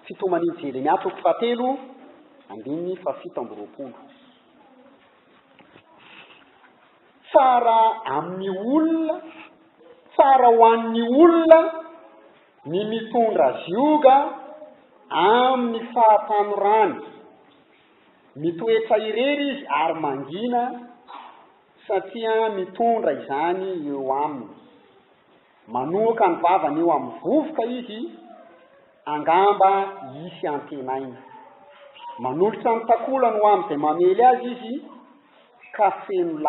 Fitoman'ny Jeremia toko fahatelo andininy fahafito amby roapolo. Tsara amin'ny olona, tsara ho an'ny olona ny mitondra zioga amin'ny fahatanorany. Mitoetra irery izy ary mangina satria mitondra izany eo aminy. Manohoka ny vavany eo amin'ny vovoka izy, angamba hisy antenainy. Manolotra ny takolany ho amin'izay mamely azy izy, ka feno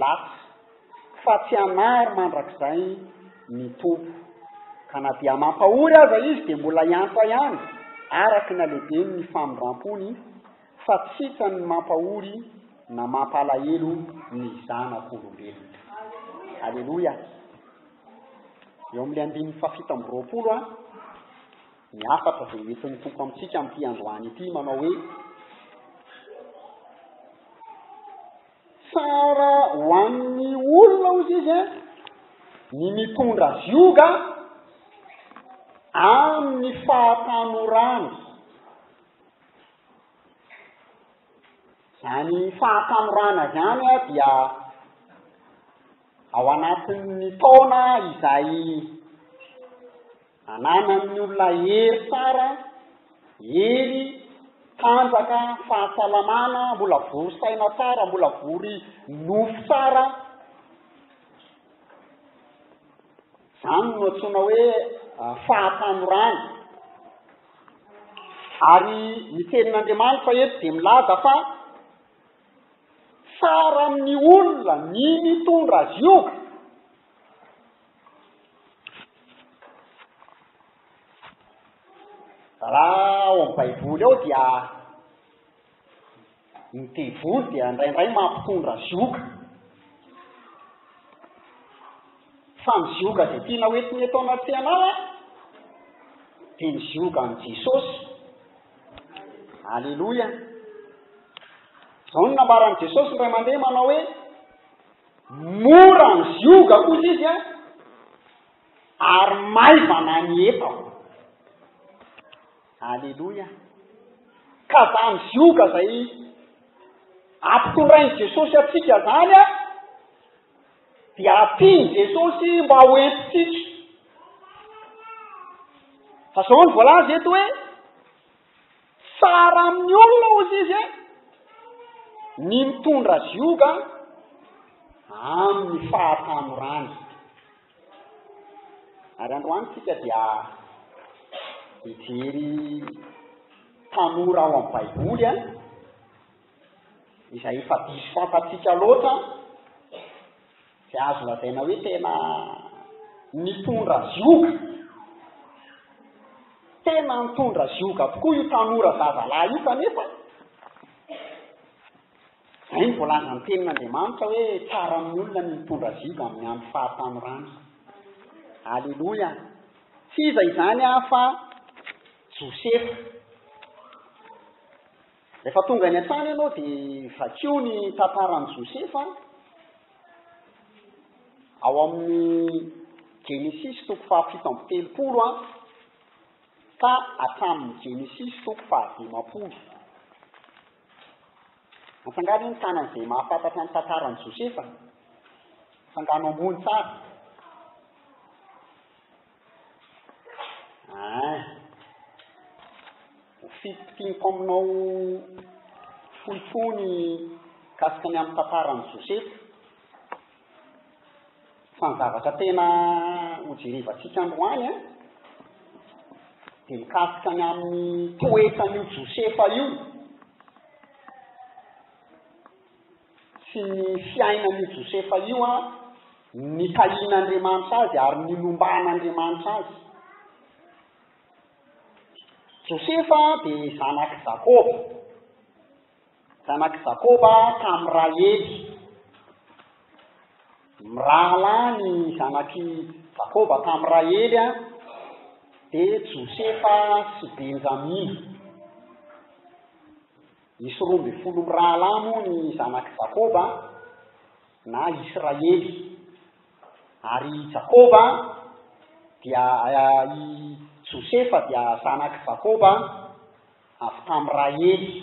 latsy, fa tsy hanary mandrakizay ny Tompo. Ka na dia mampahory aza izy, dia mbola hiantra ihany, araka ny halehibeny ny famindram-pony. fa tsy ka ny mampahory na mampalahelo ny zanak'olombelona. Aleloia! Eo amin'ilay andininy fahafito amby roapolo a, ny hafatra izay hoentin'ny Tompo amintsika amin'ity androany ity manao hoe tsara ho an'ny olona ozy izy a ny mitondra zioga amin'ny fahatanorany Izany fahasamorana izany dia ao anatin'ny taona izay ananan'ny olona hery tsara, hery tanjaka, fahasalamana, mbola vory saina tsara, mbola vory nofo tsara, Izany no antsoina hoe fahatanorana. Ary ny Tenin'Andriamanitra eto dia milaza fa tsara amin'ny olona ny mitondra azy io. Raha ao amin'ny Baiboly ao dia Ny devoly dia indraindray mampitondra zioga. Fa ny zioga izay tiana hoentiny eto anaty anao dia ny ziogan'i Jesosy. Aleloia. Izao no nambaran'i Jesosy indray mandeha manao hoe mora ny zioga kosa izy an, ary maivana ny etako. Aleloia! Ka zany zioga zay ampitondrain'i Jesosy antsika zany an, dia ampian'i Jesosy mba ho entintsika. Fa zao ny voalaza eto hoe, tsara amin'ny olona hozy izy e, ny mitondra zioga amin'ny fahatanorany. Ary androany isika dia hijery tanora ao amin'ny Baiboly an, izay efa diso fantatsika loatra, izay azo lazaina hoe tena nitondra zioga. Tena nitondra zioga tokoa io tanora zazalahy io kanefa. Izay no voalazan'ny Tenin'Andriamanitra hoe tsara amin'ny olona ny mitondra ziza amin'ny andro fahatanorany. Aleloia! Tsy iza izany aho fa Josefa. Rehefa tonga any an-trano ianao dia vakio ny tantaran'i Josefa ao amin'ny Genesisy toko fahafito amby telopolo an, ka hatramin'ny Genesisy toko fahadimampolo. Antsanga anie ny tanany izay mahafantatra ny tantaran'i Josefa a! Antsangano ambony tsara. Ain! Ho fitopitimpako aminao fohifohy ny mikasika ny amin'ny tantaran'i Josefa. Fa ny zavatra tena hojerevantsika androany an, dia mikasika ny amin'ny toetran'io Josefa io sy ny fiainan'io Josefa io an, nitahian'Andriamanitra azy ary nilomban'Andriamanitra azy. Josefa dia zanak'i Jakoba. Zanak'i Jakoba tamin'ny Rahely. Mirahalahy ny zanak'i Jakoba tamin'i Rahely dia Josefa sy Benjamina. Nisy roa ambin'ny folo mirahalahy moa ny zanak'i Jakoba na Israely. Ary i Jakoba dia eh, i Josefa dia zanak'i Jakoba Avy tamin'ny Rahely,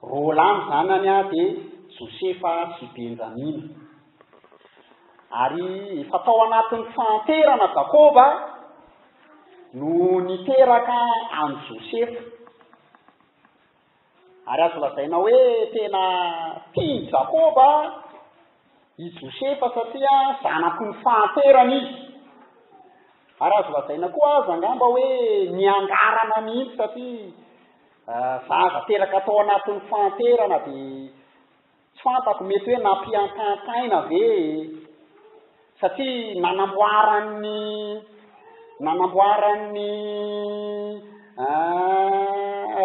roa lahy ny zanany, dia Josefa sy Benjamina. Ary efa tao anatin'ny fahanterana Jakoba no niteraka an'i Josefa. Ary azo lazaina hoe tena tian'i Jakoba i Josefa satria zanaky ny fahanterany izy. Ary azo lazaina koa aza angamba hoe niangarana mihitsy satria zaza teraka tao anatin'ny fahanterana dia Tsy fantako, mety hoe nampihantahantaina ve e? Satria nanamboaran'ny nanamboaran'ny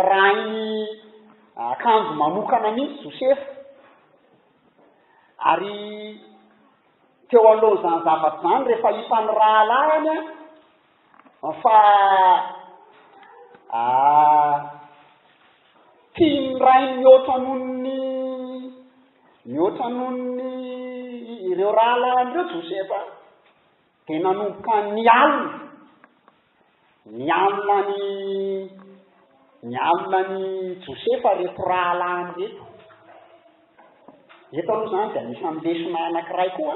rainy akanjo manokana mihitsy Josefa. Ary teo alohan'izany zavatra izany, rehefa hitan'ny rahalahiny, An fa ah tian'ny rainy mihoatra noho ny mihoatra noho ny ireo rahalahiny ireo Josefa dia nanomboka nialona nialona ny nialona ny Josefa reto rahalahiny reto Eto aloha izany dia anisan'ny lesona anankiray koa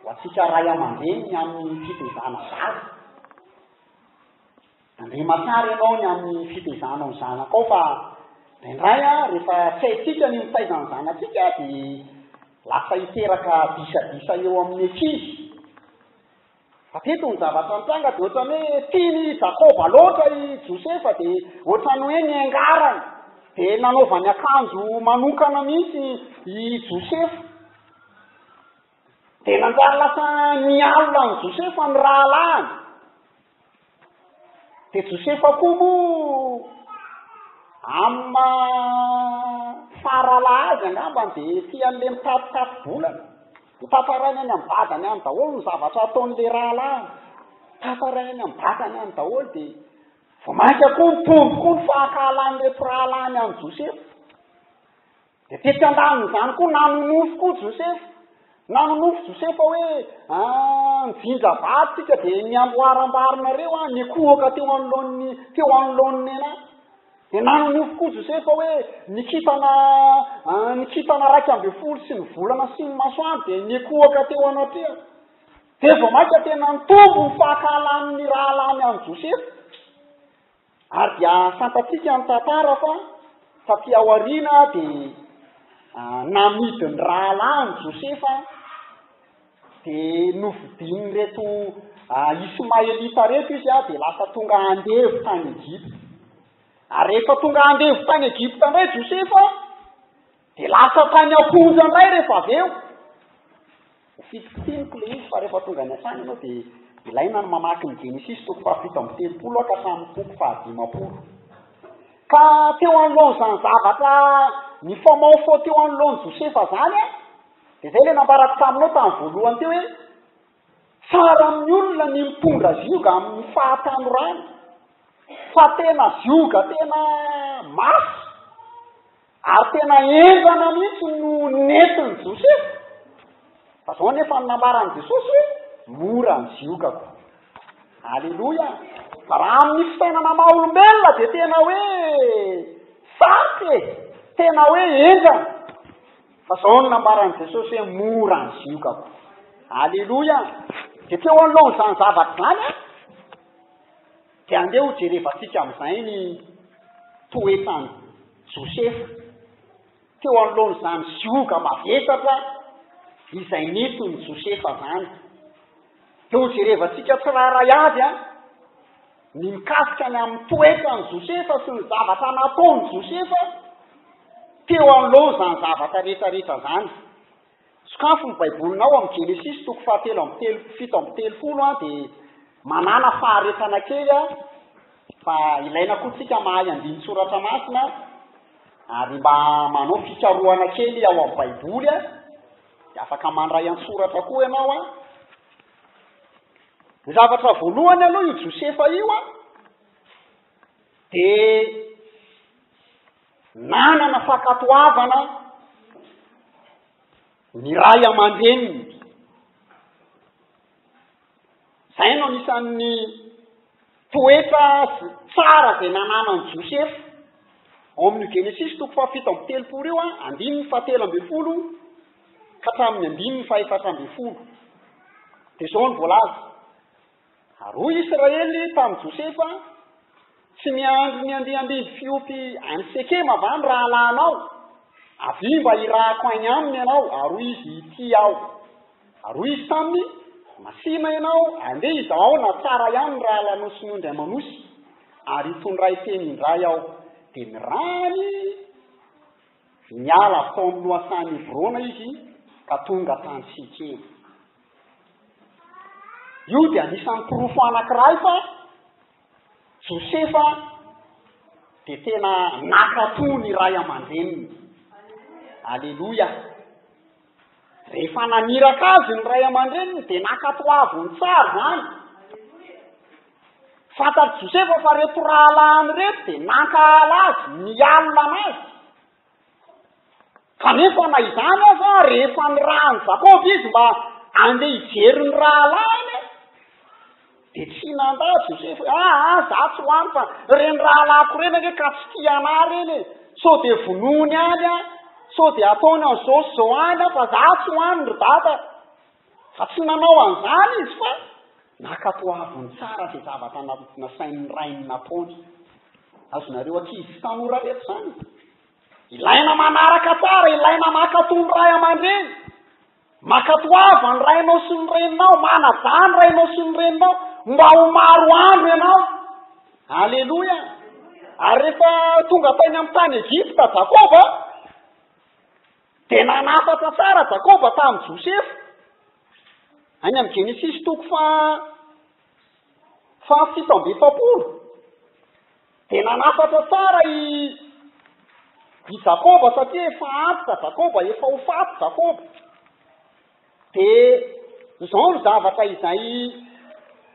ho antsika ray aman-dreny ny amin'ny fitaizana zaza. Andriama tsara ianao ny amin'ny fitaizanao ny zanakao fa indraindray rehefa tsy haintsika ny mitaiza ny zanatsika dia lasa hiteraka disadisa eo amin'ny ankizy. Hatreto ny zavatra nitranga dia ohatran'ny hoe tian' i Jakoba loatra i Josefa dia ohatran'ny hoe niangarany dia nanaovany akanjo manokana mihitsy i Josefa. Dia nanjary lasa nialona an'i Josefa ny rahalahiny. Dia Josefa koa moa amin'ny maha faharalaha azy angambany dia tia an'ilay mitatitatim-bolana. Hotantarainy any amin'ny vadany any daholo ny zavatra ataon'ilay rahalahiny. Tantarainy any amin'ny vadany any daholo dia vao mainka koa nitombo koa ny fahankahalan'ireto rahalahiny an'i Josefa. Dia tetsy an-danin'izany koa nanonofy koa Josefa. Nanonofy Josefa hoe, Aa njinja vato tsika dia ny amboarambarinareo aho nikohoka teo anoloan'ny, teo anoloan'ny nenay. Dia nanonofy koa Josefa hoe, Ny kintana, aa ny kintana raika ambin'ny folo sy ny volana sy ny masoandro dia nikohoka teo anatrehako. Dia vao mainka tena nitombo ny fahakahalan'ny rahalahiny an'i Josefa. Ary dia fantatsika ny tantara fa taty aoriana dia namidy ny rahalahiny Josefa dia nofidin'ireto Ismaelita ireto izy dia lasa tonga andevo tany Egypta. Ary rehefa tonga andevo tany Egypta indray Josefa Dia lasa tany am-ponja indray rehefa avy eo. Ho fitokiniko ilay izy fa rehefa tonga any an-tany ianao dia ilaina ny mamaky ny Genesisy toko fahafito amby telopolo aho ka hatramin'ny toko fahadimampolo. Ka teo anoloan'izany zavatra nifamaofao teo anoloan'i Josefa izany, dia izay ilay nambarako taminao tamin'ny voalohany teo hoe, Tsara amin'ny olona ny mitondra zioga amin'ny fahatanorany fa tena zioga tena mafy ary tena henjana mihitsy no nentin'i Josefa. Fa zao anefa ny nambaran'i Jesosy hoe mora ny ziogako. Aleloia! Fa raha amin'ny fitainana maha olombelona dia tena hoe sarotra e, tena hoe henjana. Fa zao no nambaran'i Jesosy hoe mora ny zioka ko. Aleloia! Dia teo anoloan'izany zavatra izany an, dia andeha ho jerevantsika amin'izay ny toetran'i Josefa. Teo anoloan'izany zioga mavesatra izay nety ny Josefa izany. Dia ho jerevantsika tsirairay avy an. Ny mikasika ny amin'ny toetran'i Josefa sy ny zavatra nataon'i Josefa teo anoloan'izany zavatra rehetrarehetra izany. Sokafy ny Baibolinao amin'ny Genesisy toko fahatelo amby telo, fito amby telopolo an, dia manàna faharetana kely an, fa ilaina koa tsika mahay andinin-tsoratra masina ary mba manao fikarohana kely ao amin'ny Baiboly an, dia afaka mandray an-tsoratra koa ianao an. Ny zavatra voalohany aloha io Josefa io a, dia nanana fankatoavana ny ray aman-dreniny. Izay no anisan'ny Toetra sy tsara izay nananan'i Josefa. Ao amin'io Genesisy toko fahafito amby telopolo io, andininy fahatelo ambin'ny folo ka hatramin'ny andininy fahefatra ambin'ny folo, dia izao no voalaza, Ary hoy Israely tamin'i Josefa, Tsy miandry ny andiany mbidy fiompy any Sekema va ny rahalahinao? Avia mba hirahako any aminy ianao, ary hoy izy, Ity aho. Ary hoy izy taminy, Masìna ianao, andeha izahao na tsara ihany ny rahalanoson'io indray manosy, ary hitondray teny indray aho, dia nirany niala avy tao amin'ny lohasahan'i Hebrona izy ka tonga tany Sekema. Io dia anisan'ny porofo anankiray fa Josefa dia tena naka toa ny ray aman-dreniny. Aleloia! Rehefa naniraka azy ny ray aman-dreniny dia nankatoaviny tsara izany. Fantatr'i Josefa fa ireto rahalahiny ireto dia nankahala azy, nialona an'azy. Kanefa na izany aza, rehefa nirahan'i Jakoba izy mba handeha hijery ny rahalahiny, Dia tsy nanda azy Josefa hoe, Aa, izaho tsy ho any fa ireny rahalahiko ireny ange ka tsy tia anà ireny e! Sao dia vonoiny any aho, sao dia ataony an'izao sy izao any aho, fa izaho tsy ho any ry dada! Fa tsy nanao an'izany izy fa nankatoaviny tsara izay zavatra nasain'ny rainy nataony. Azonareo ankizy sy tanora reto izany e! Ilaina manaraka tsara, ilaina mankatò ny ray aman-dreny. Mankatoava ny rainao sy ny reninao, manajà ny rainao sy ny reninao, mba ho maro andro ianao. Aleloia! Ary rehefa tonga tany amin'ny tany Egypta Jakoba, dia nanafatra tsara Jakoba tamin'i Josefa. Any amin'ny Genesisy toko faha, fahafito amby efapolo, Dia nanafatra tsara i i Jakoba satria efa antitra Jakoba, efa ho faty Jakoba. Dia izao ny zavatra izay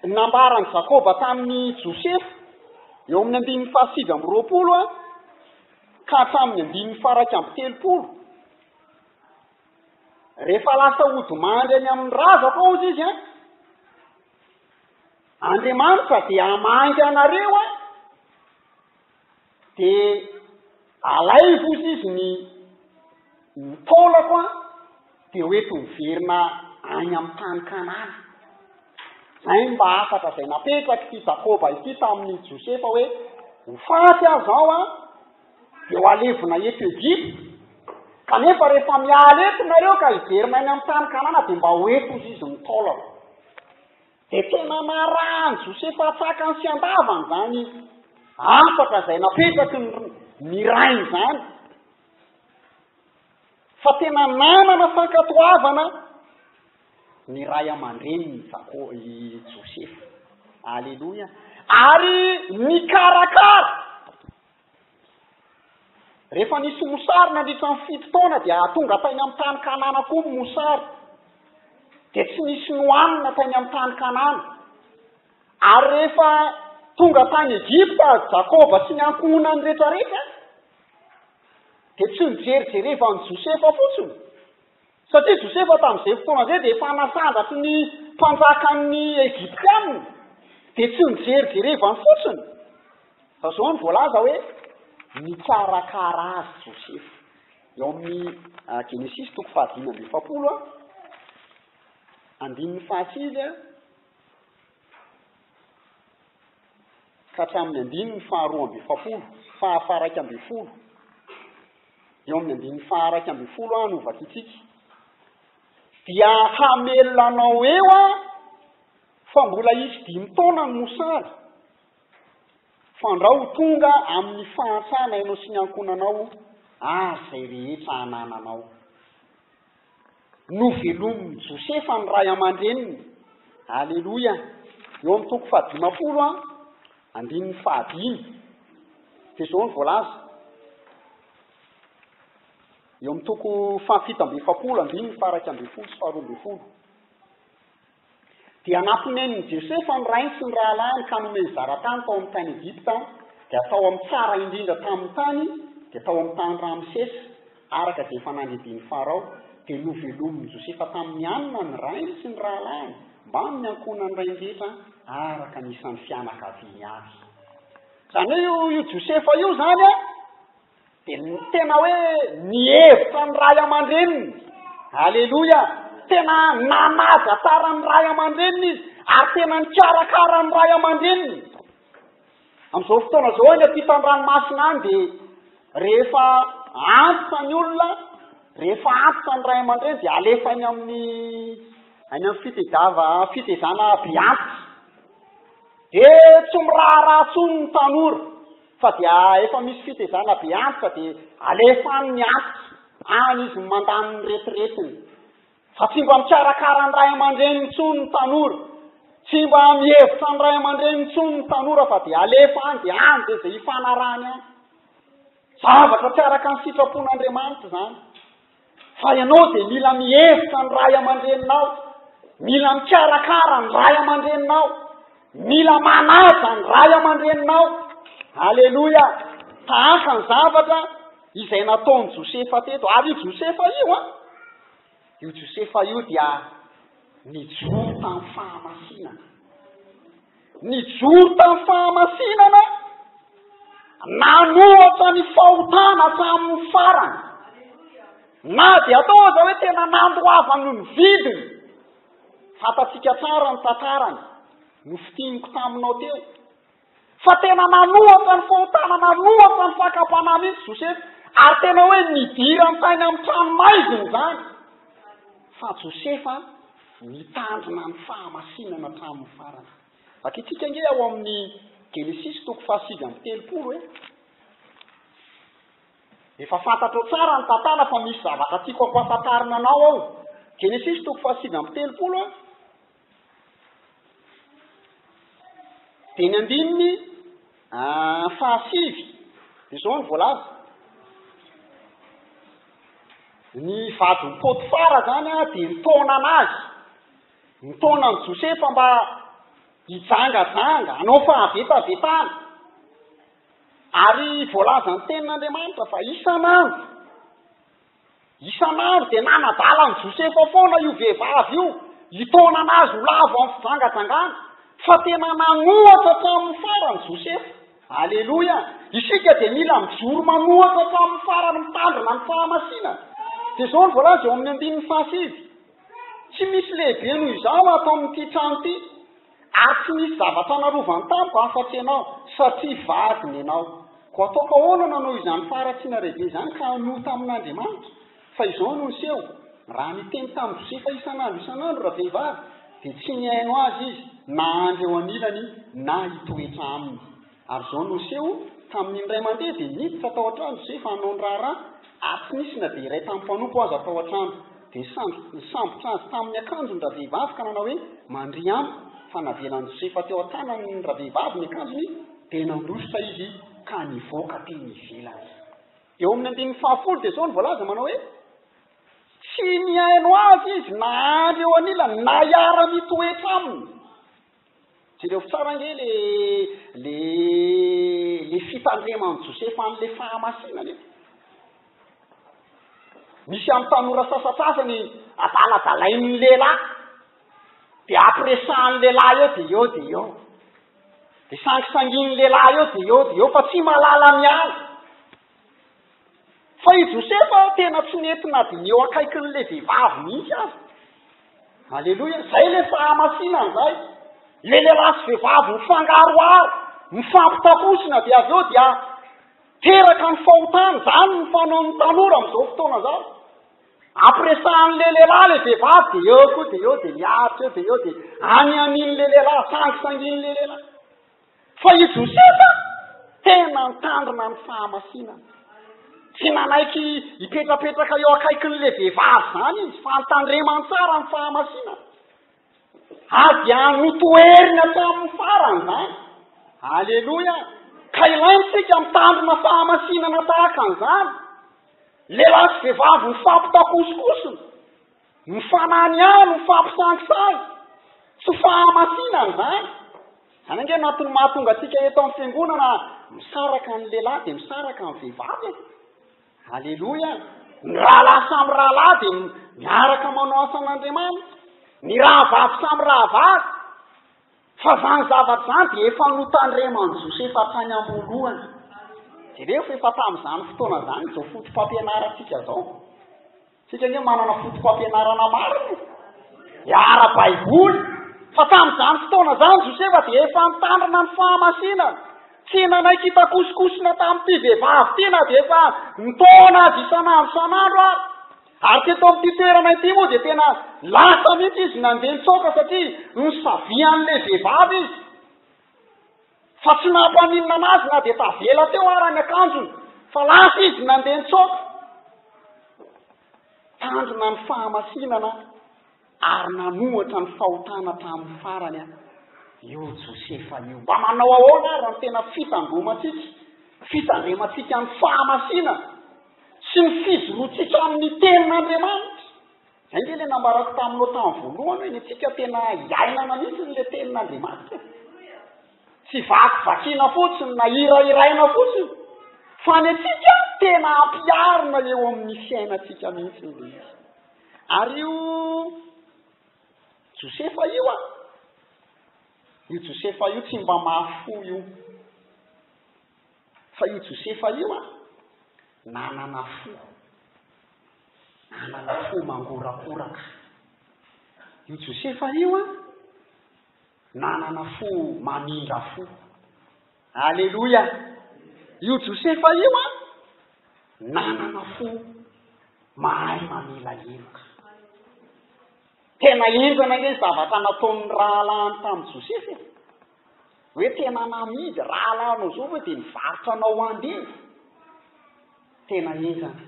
nambaran'i Jakoba tamin'i Josefa, eo amin'ny andininy fahasivy amby roapolo ka hatramin'ny andininy faharaika amby telopolo, rehefa lasa hodimandry any amin'ny razako aho hozy izy an, Andriamanitra dia hamangy anareo an! Dia alaivo ozy izy ny ny taolako an! Dia ho eto miverina any amin'ny tany Kanana. Izay ny mba hafatra izay napetraky ity Jakoba ity tamin'ny Josefa hoe ho faty aho izao an! Dia ho alevina eto Egypta. Kanefa rehefa miala eto nareo ka hiverina any amin'ny tany Kanana dia mba ho eto ozy izy ny taolako. Dia tena naraha an'i Josefa an-tsakany sy an-davany izany afaka izay napetraky ny, ny rainy izany. Fa tena nanana fankatoavana ny ray aman-dreniny i Jako, i Josefa. Aleloia. Ary nikarakara. Rehefa nisy mosary nandritra ny fito taona dia tonga tany amin'ny tany Kanana koa ny mosary. Dia tsy nisy nohanina tany amin'ny tany Kanana. Ary rehefa tonga tany Egypta Jakoba sy ny ankohonany rehetrarehetra dia tsy nijerijereva an'i Josefa fotsiny. Satria Josefa tamin'izay fotoana izay dia efa nasandraky ny mpanjakan'ny Egyptiana, dia tsy nijerijerevany fotsiny, fa izao no voalaza hoe, nikarakara azy Josefa. Eo amin'ny Genesisy toko fahadimy amby efapolo, andininy fahasivy. ka hatramin'ny andininy faharoa amby efapolo fahafaharaika amby folo, eo amin'ny andininy faharaika amby folo aho no vakitsika, dia hamelona anao eo aho fa mbola hisy dimy taona ny mosary, fandrao ho tonga amin'ny fahantrana ianao sy ny ankohonanao ary izay rehetra anananao. Novelomin'i Josefa ny ray aman-dreniny. Aleloia! Eo amin'ny toko fahadimampolo a, andininy fahadimy, dia izao no voalaza. Eo amin'ny toko fahafito amby efapolo, andininy faha iraika ambin'ny folo sy faharoa ambin'ny folo. Dia namponenin'i Josefa ny rainy sy ny rahalahiny ka nomeny zara-tany tao amin'ny tany Egypta, dia tao amin'ny tsara indrindra tamin'ny tany dia tao amin'ny tany Ramsesa, araka izay efa nandebian'i Farao, dia novelomin'i Josefa tamin'ny hanina ny rainy sy ny rahalahiny mbamin'ny ankohonan'ny rainy rehetra araka ny isan'ny fianakaviany avy. Izany hoe io Josefa io izany an! Dia ny tena hoe nihevitra ny ray aman-dreniny. Aleloia! Tena nanaja tsara ny ray aman-dreniny izy, ary tena nikarakara ny ray aman-dreniny. Amin'izao fotoana izao any ampitan-dranomasina any dia rehefa antitra ny olona, rehefa antitra ny ray aman-dreny dia alefa any amin'ny any amin'ny fitedava fitezana be antitra. Dia tsy miraharaha intsony ny tanora. Fa dia efa misy fitezana be antitra dia alefa any ny antitra, any izy no mandany ny retiretiny. Fa tsy mba mikarakara ny ray aman-dreniny intsony ny tanora. Tsy mba mihevitra ny ray aman-dreniny intsony ny tanora fa dia alefa any dia any dia izay hifanarahany any. Zavatra tsy araka ny sitrapon'Andriamanitra izany. Fa ianao dia mila mihevitra ny ray aman-dreninao, mila mikarakara ny ray aman-dreninao, mila manaja ny ray aman-dreninao. Aleloia! Tahaka ny zavatra izay nataon'i Josefa teto. Ary io Josefa io, an, io Josefa io dia nijoro tamin'ny fahamasinana. Nijoro tamin'ny fahamasinana, nanohatra ny fahotana hatramin'ny farany. Na dia atao aza hoe tena nandoavany ny vidiny. Fantatsika tsara ny tantarany, nofitiniko taminao teo. Fa tena nanohatra ny fahotana, nanohatra ny fakam-panahy mihitsy Josefa, ary tena hoe nidirany tany amin'ny tranomaizina izany. Fa Josefa Mitandrina ny fahamasinana hatramin'ny farany. Vakintsika ange ao amin'ny Genesisy toko fahasivy amby telopolo e. Efa fantatrao tsara ny tantara fa misy zavatra tiako hampahafantarina anao ao. Genesisy toko fahasivy amby telopolo e. Dia ny andininy Aah fahasivy dia izao no voalaza, ny vadin'i Potifara izany dia nitaona an'azy, nitaona an'i Josefa mba hijangajanga, hanao fahavetavetana, ary voalazan'ny tenin'Andriamanitra fa isan'andro, Isan'andro dia nanadala an'i Josefa foana io vehivavy io, hitaonana azy ho lavo amin'ny fijangajangana. Fa tena nanohatra hatramin'ny farany Josefa. Aleloia! Isika dia mila mijoro manohatra hatramin'ny farany mitandrina ny fahamasinana. Dia izao no voalaza eo amin'ny andininy fahasivy, Tsy misy lehibe noho izaho ato amin'ity trano ity. Ary tsy misy zavatra narovany tamiko afa-tsy ianao, satria vadiny ianao. Koa ataoko ahoana nanao izany faharatsiana lehibe izany ka hanohy tamin'Andriamanitra? Fa izao no niseho, Raha niteny tamin'i Josefa isan'andro isan'andro ravehivavy, dia tsy nihaino azy izy, na handry eo anilany, na hitoetra aminy. Ary izao no niseho, Tamin'iny indray mandeha dia niditra tao an-trano Josefa hanao ny raharaha, ary tsy nisy na dia iray tamin'ny mpanompo aza tao an-trano. Dia sandry nisambotra azy tamin'ny akanjony ny ravehivavy ka nanao hoe, Mandria amiko. Fa navelan'i Josefa teo an-tanan'ny ravehivavy ny akanjony, dia nandositra izy ka nivoaka teny ivelany. Eo amin'ny andininy fahafolo dia izao no voalaza, manao hoe, Tsy nihaino azy izy na andry eo anilany na hiara-mitoetra aminy. Jereo tsara ange le le le fitandreman'i Josefa an'le fahamasinana e! Misy amin'ny tanora sasatsasany adaladalain'ny lehilahy, dia ampiresahan'ny lehilahy eo dia eo dia eo, dia sangisangian'ny lehilahy eo dia eo dia eo fa tsy mahalala miala. Fa i Josefa tena tsy nety na dia ny eo akaikin'ilay vehivavy mihitsy aza. Aleloia. Izay ilay fahamasinana izay. Ilay lehilahy sy vehivavy mifangaroharo, mifampitapozina dia avy eo dia teraka ny fahotana. Izany ny fanaon'ny tanora amin'izao fotoana izao. Ampiresahan'ilay lehilahy ilay vehivavy dia eo koa dia eo dia miaritra eo dia eo dia any amin'ilay lehilahy, sangisangin'ilay lehilahy. Fa i Josefa tena nitandrina ny fahamasinana. Tsy nanaiky hipetrapetraka eo akaikin'ilay vehivavy izany izy, fa nitandremany tsara ny fahamasinana. Ary dia notoheriny hatramin'ny farany izany. Aleloia! Ka ilaina isika mitandrina fahamasinana tahaka an'izany. Lehilahy sy vehivavy mifampitakosikosina. Ny fanahy ny ahy no fampisangisahy, tsy fahamasinana izany. Izany ange no antony mahatonga antsika eto amin'ny fiangonana misaraka ny lehilahy dia misaraka ny vehivavy e. Aleloia. Ny rahalahy samy rahalahy dia miaraka manao asan'Andriamanitra. Ny rahavavy samy rahavavy. Fa izany zavatra izany dia efa notandreman'i Josefa tany am-boalohany. Jereo fa efa tamin'izany fotoana izany izao foto-pampianarantsika izao. Isika anie manana foto-pampianarana maro e! ara-baiboly. Fa tamin'izany fotoana izany, Josefa dia efa nitandrina ny fahamasinana. Tsy nanaiky hitakosokosona tamin'ity vehivavy ity na dia efa nitaona azy isan'andro isan'andro ary. Ary teto amin'ity toerana ity moa dia tena lasa mihitsy izy nandeha nitsoaka satria nosavian'ilay vehivavy izy. Fa tsy nampaninona anazy na dia tavela teo ara ny akanjony, fa lasa izy nandeha nitsoaka. Tanjona ny fahamasinana ary nanohatra ny fahotana tamin'ny farany an, io Josefa io. Mba manao ahoana ary ny tena fitandromantsika, fitandremantsika ny fahamasinana sy ny fijoroantsika amin'ny tenin'Andriamanitra? Izay nge le nambarako taminao tam voalohany hoe ny antsika tena iainana mihitsy ny le tenin Andriamanitra e! Tsy vakivakiana fotsiny na hirahiraina fotsiny fa ny antsika tena ampiarina eo amin'ny fiainantsika mihitsy ny le izy. Ary io Josefa io a, io Josefa io tsy mba mahafoy io. Fa io Josefa io an, nanana fo, nanana fo mangorakoraka. Io Josefa io an, nanana fo mamindra fo. Aleloia! Io Josefa io an, nanana fo mahay mamela heloka. Tena henjana ilay zavatra nataon'ny rahalahiny tamin'i Josefa e! Hoe tena namidy rahalahinao izao ve dia nivarotra anao ho andevo? Tena henjana.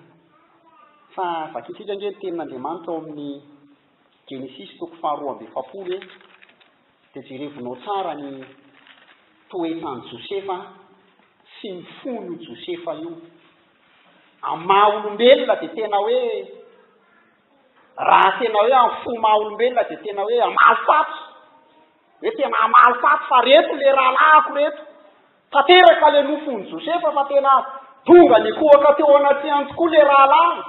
Fa vakintsika ange ny tenin'Andriamanitra ao amin'ny Genesisy toko faharoa amby efapolo e, dia jerevinao tsara ny toetran'i Josefa sy ny fon'io Josefa io. Amin'ny maha olombelona dia tena hoe. Raha tena hoe amin'ny fo maha olombelona dia tena hoe hamaly faty, hoe tena hamaly faty fa reto le rahalahiko reto, tanteraka le nofon'i Josefa fa tena tonga nikohaka teo anatrehany tokoa le rahalahiny,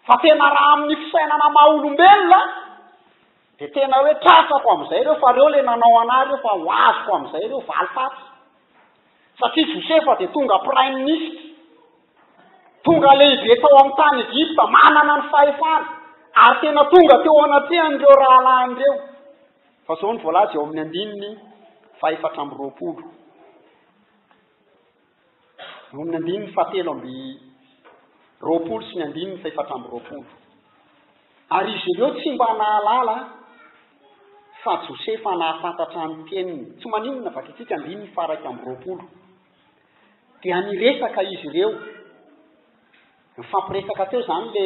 fa tena raha amin'ny fisainana maha olombelona dia tena hoe tratrako amin'izay ireo fa reo le nanao anah reo fa ho azoko amin'izay reo valifaty, satria Josefa dia tonga prime ministre. Tonga lehibe tao amin'ny tany Egypta, manana ny fahefana, ary tena tonga teo anatrehan'ireo rahalahiny ireo. Fa izao no voalaza eo amin'ny andininy fahefatra amby roapolo. Eo amin'ny andininy fahatelo amby roapolo sy ny andininy fahefatra amby roapolo. Ary izy ireo tsy mba nahalala fa Josefa nahafantatra ny teniny. Tsy maninona, vakitsika andininy faha iraika amby roapolo. Dia niresaka izy ireo, nifampiresaka teo izany le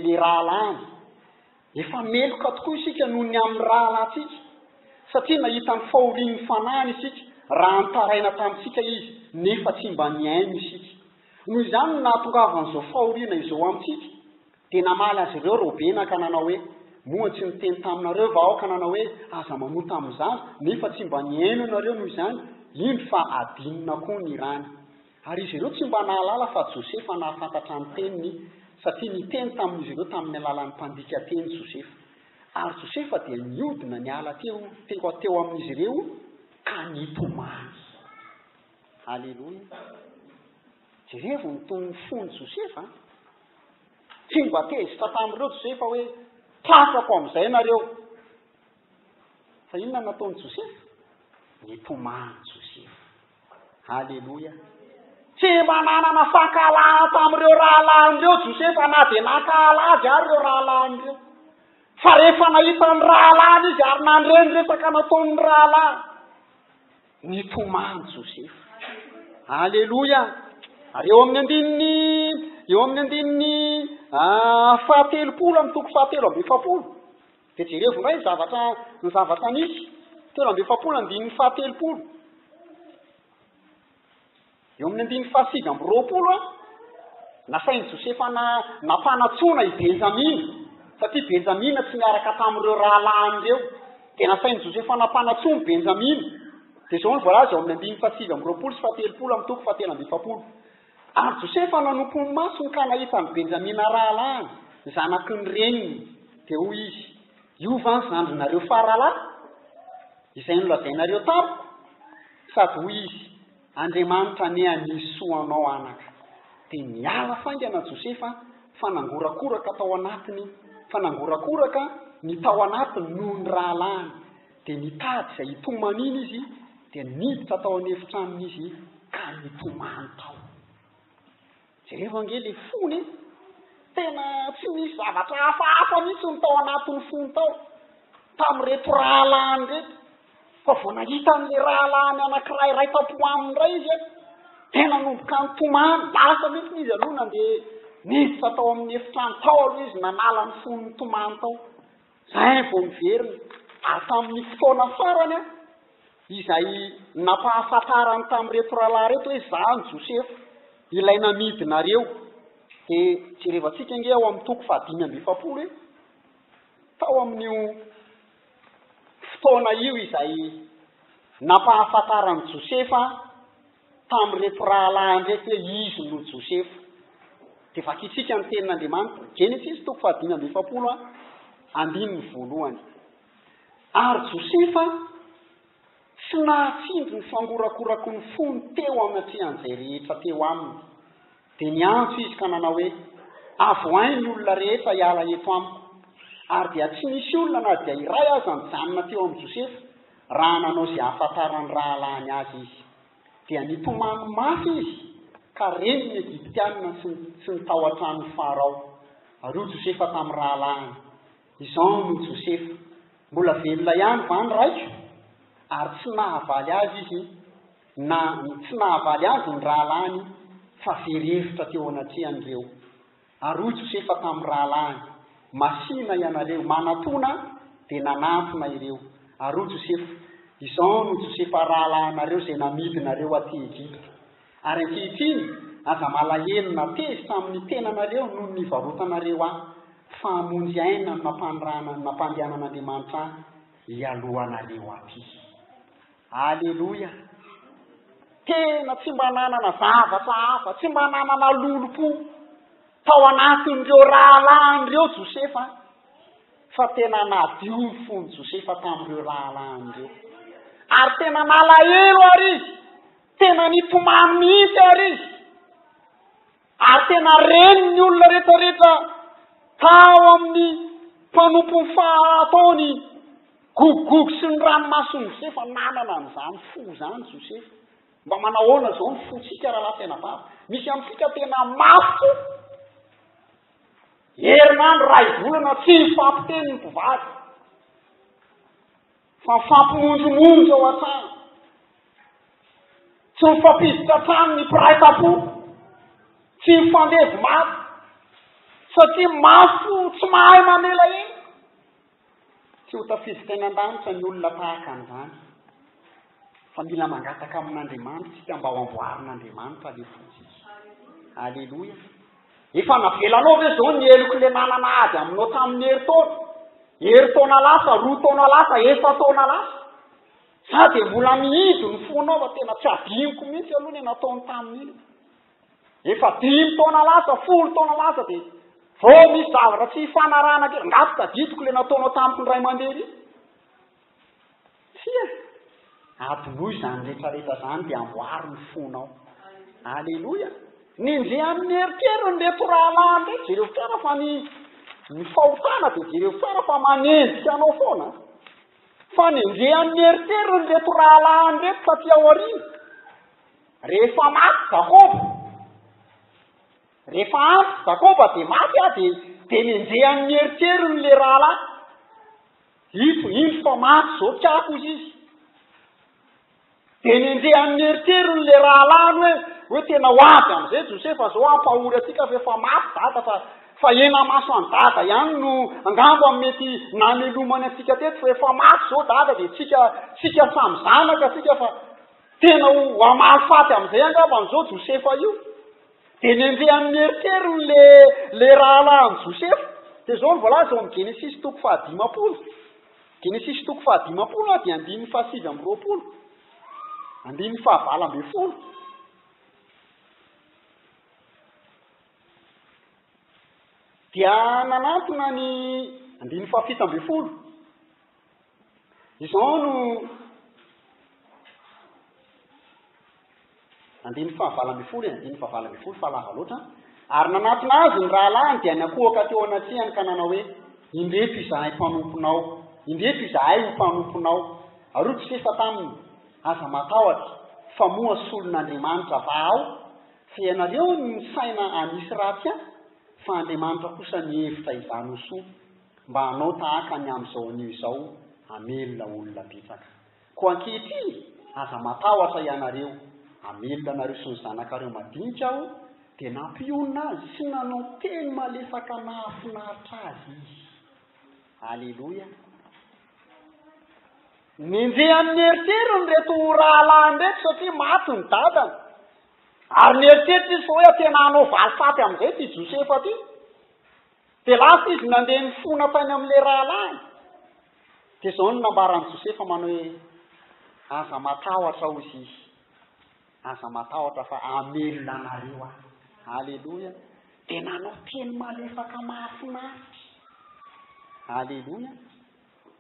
le rahalahiny. Efa meloka tokoa isika noho ny amin'ny rahalahintsika, satria nahita ny fahorian'ny fanahiny isika raha nitaraina tamintsika izy, nefa tsy mba nihaino isika. Noho izany no nahatongavan'izao fahoriana izao amintsika, Dia namaly azy ireo Robena ka nanao hoe, Moa tsy niteny taminareo va aho ka nanao hoe, 'Aza manota amin'ny zaza'? Nefa tsy mba nihaino ianareo noho izany, indro fa adinona koa ny rany. Ary izy ireo tsy mba nahalala fa Josefa nahafantatra ny teniny, satria niteny tamin'izy ireo tamin'ny alalan'ny mpandika teny Josefa. Ary Josefa dia niodina niala teo teo amin'izy ireo ka nitomany. Haleloia! Jerevo ny tonon'ny fon'i Josefa an! Tsy mba tezitra tamin'ireo Josefa hoe tratrako amin'izay nareo. Fa inona no nataon'i Josefa? Nitomany Josefa. Aleloia! Tsy mba nanana fankahalana tamin'ireo rahalahin'ireo Josefa na dia nankahala azy ary ireo rahalahin'ireo. Fa rehefa nahita ny rahalahiny izy ary nandre ny resaka nataon'ny rahalahy. Nitomany Josefa. Aleloia! Ary eo amin'ny andininy, eo amin'ny andininy ah, fahatelopolo amin'ny toko fahatelo amby efapolo, dia jerevo indray ny zavatra, ny zavatra nisy, telo amby efapolo andininy fahatelopolo. Eo amin'ny andininy fahasivy amby roapolo, nasain'i Josefa nampanatsoina i Benjamina, satria Benjamina tsy niaraka tamin'ireo rahalahiny ireo. Dia nasain'i Josefa nampanatsoina i Benjamina. Dia izao no voalaza eo amin'ny andininy fahasivy amby roapolo sy fahatelopolo amin'ny toko fahatelo amby efapolo. Ary Josefa nanompo ny masony ka nahita an'i Benjamina rahalahiny, zanaky ny reniny. Dia hoy izy, Io va ny zandrinareo faralahy, izay nolazainareo tamiko? Sady hoy izy, Andriamanitra anie hanihy soa anao anaka de miala faingana Josefa a fa nangorakoraka tao anatiny fa nangorakoraka ny tao anatiny noho ny rahalahiny de nitady izay hitomanina izy dia niditra tao an'efitranony izy ka nitomany tao Jereo ange le fony e! Tena tsy nisy zavatra hafahafa mihitsy ny tao anatin'ny fony tao tamin'ireto rahalahiny ireto fa vao nahita an'ilay rahalahiny anankiray iray tampo aminy indray izy an, dia nanomboka nitomany, lasa mihitsy izy aloha nandeha niditra tao amin'ny efitrano tao aloha izy nanala ny fony nitomany tao. Izay vao niverina, ary tamin'ny fotoana farany izay nampahafantarany tamin'ireto rahalahy ireto hoe izaho Josefa, ilay namidinareo. Dia jerevantsika ange ao amin'ny toko fahadimy amby efapolo hoe tao amin'io fotoana io izay nampahafantaran'i Josefa Tamin'ireto rahalahiny ireto hoe izy no Josefa. Dia vakintsika ny Tenin'Andriamanitra, Genesisy toko fahadimy amby efapolo, andininy voalohany. Ary Josefa tsy nahatsindry ny fangorakoraky ny fony teo anatrehan'izay rehetra teo aminy. Dia niantso izy ka nanao hoe, Avohay ny olona rehetra hiala eto amiko. Ary dia tsy nisy olona na dia iray aza nijanona teo amin'i Josefa. Raha nanao izay hahafantaran'ny rahalahiny azy izy, dia nitomany mafy izy ka reny ny Egyptiana sy ny sy ny tao an-tranon'i Farao. Ary hoy Josefa tamin'ny rahalahiny, Izao no Josefa, mbola velona ihany va ny raiko? Ary tsy nahavaly azy izy na tsy nahavaly azy ny rahalahiny fa very hevitra teo anatrehan'ireo. Ary hoy Josefa tamin'ny rahalahiny, Masìna ianareo, manatòna ahy, dia nanatona ireo. Ary hoy Josefa, Izao no Josefa rahalahinareo izay namidinareo aty Egypta. Ary ankehitriny, aza malahelo na tezitra amin'ny tenanareo noho ny nivarotanareo ahy, fa hamonjy aina ny nampanirahana ny nampandehanan'Andriamanitra ahy hialoha anareo aty. Aleloia! Tena tsy mba nanana zavatra hafa, tsy mba nanana lolompo tao anatin'ireo rahalahiny ireo Josefa, fa tena nadio ny fon'i Josefa tamin'ireo rahalahiny ireo. Ary tena nalahelo ary izy, tena nitomany mihitsy ary izy. Ary tena reny ny olona rehetrarehetra tao amin'ny mpanompon'ny fahaatao ny Gogogogy sy ny ranomason'i Josefa. Nanana an'izany fo izany Josefa. Mba manahoana izao ny fontsika rahalahy tena babo? Misy amintsika tena mafy fo. Herinandro, iray volana, tsy hifampiteny ny mpivady. Fa mifampimonjomonjo ao an-trano. Tsy mifampiditra an-trano ny mpiray tam-po. Tsy mifandevy maty. Satria mafo tsy mahay mamela ela. Tsy ho tafiditra teny an-danitra ny olona tahaka an'izany. Fa mila mangataka amin'Andriamanitra isika mba ho amboarin'Andriamanitra alefaotsika. Aleloia. Efa navelanao ve zao ny heloky le nanana ady aminao tamin'ny herintaona, herintaona lasa, roa taona lasa, efa-taona lasa? Za dia mbola mihidy ny fonao fa tena tsy adinoko mihitsy aloha le nataony tamin'iny. Efa dimy taona lasa, folo taona lasa dia vao misy zavatra tsy hifanarahana kely, nga tsy tadidiko le nataonao tamiko ny ray aman-dreny iny? Tsia! Adinoy izany retraretra izany dia amboary ny fonao. Aleloia! Nenjehy amin'ny eritreriny ireto rahalahy ireto, jereo tsara fa ny ny fahotana dia jereo tsara fa manenjika anao foana. Fa nenjehy amin'ny eritreriny ireto rahalahy ireto taty aoriana. Rehefa maty Jakoba, rehefa antitra Jakoba dia maty aho dia dia nenjehy amin'ny eritreriny ilay rahalahy. Ito, indro fa maty izao mpikaka hoy izy. Dia nenjehy an'i Meriterony ilay rahalahiny hoe, hoe tena ho avy amin'izay Josefa izao hampahory antsika fa efa maty dada fa, fa henamaso an'i dada ihany no angamba mety namelomany antsika teto fa efa maty izao dada dia tsika, tsika samy zanaka tsika fa tena ho hamaly faty amin'izay angamba an'izao Josefa io. Dia nendreny amin'ny eritreriny le le rahalahin'i Josefa. Dia zao ny voalaza ao amin'ny Genesisy toko fahadimampolo. Genesisy toko fahadimampolo a, dia andininy fahasivy amby roapolo. Andininy fahavalo ambin'ny folo. Dia nanantona ny andininy fahafito ambin'ny folo. Izao no andininy fahavalo ambin'ny folo e, andininy fahavalo ambin'ny folo fa lava loatra. Ary nanatona azy ny rahalahiny dia nakohoka teo anatrehany ka nanao hoe, indreto izahay mpanomponao, indreto izahay ho mpanomponao. Ary hoy Josefa taminy, aza matahotra, fa moa solon'Andriamanitra vahao? Fa ianareo no nisaina hanisy ratsy ahy, fa Andriamanitra kosa nihevitra izany ho soa. Mba hanao tahaka ny amin'izao anio izao hamelona olona betsaka. Koa ankehitriny, aza matahotra ianareo. Hamelona anareo sy ny zanakareo madinika Aho, dia nampionona azy sy nanao teny malefaka nahafinaritra azy izy. Aleloia! Nenjehan'i Meritere ireto rahalahiny ireto satria maty ny dadany. Ary nieritreritra izy fa hoe tena hanao valifaty amin'izay ity Josefa ity. Dia lasa izy nandeha nifona tany amin'ilay rahalahiny. Dia izao no nambaran'i Josefa manao hoe, Aza matahotra, hoy izy. Aza matahotra fa hamelona anareo aho. Aleloia. Dia nanao teny malefaka mahafinaritra. Aleloia.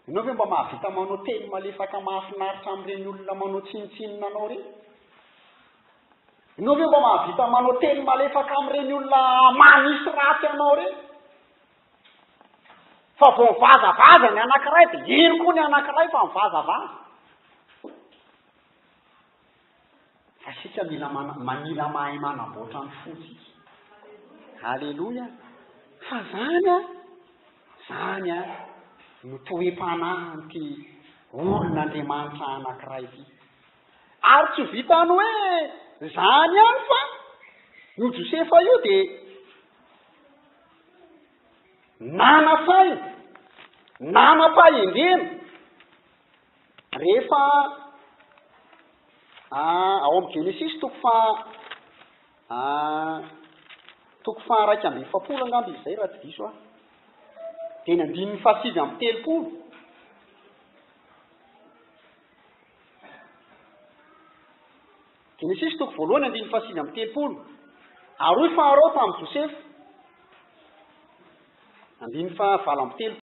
Ianao ve mba mahavita manao teny malefaka mahafinaritra amin'ireny olona manao tsinontsinona anao ireny? Ianao ve mba mahavita manao teny malefaka amin'ireny olona manisy ratsy anao ireny? Fa vao mivazavaza ny anankiray dia iny koa ny anankiray fa mivazavaza. Fa isika mila mana, mila mahay manamboatra ny fontsika. Aleloia. Fa zany a, zany a, no toem-panahin'ity olon'Andriamanitra anankiray ity. Ary tsy vitan'ny hoe zany ihany fa io Josefa io dia nanasaina, nanam-pahendrena, Rehefa ao amin'ny Genesisy toko faha toko faha iraika amby efapolo angamba izy izay raha tsy diso aho, dia ny andininy faha sivy amby telopolo, Genesisy toko voalohany andininy faha sivy amby telopolo, ary hoy Farao tamin'i Josefa, andininy faha valo amby telopolo.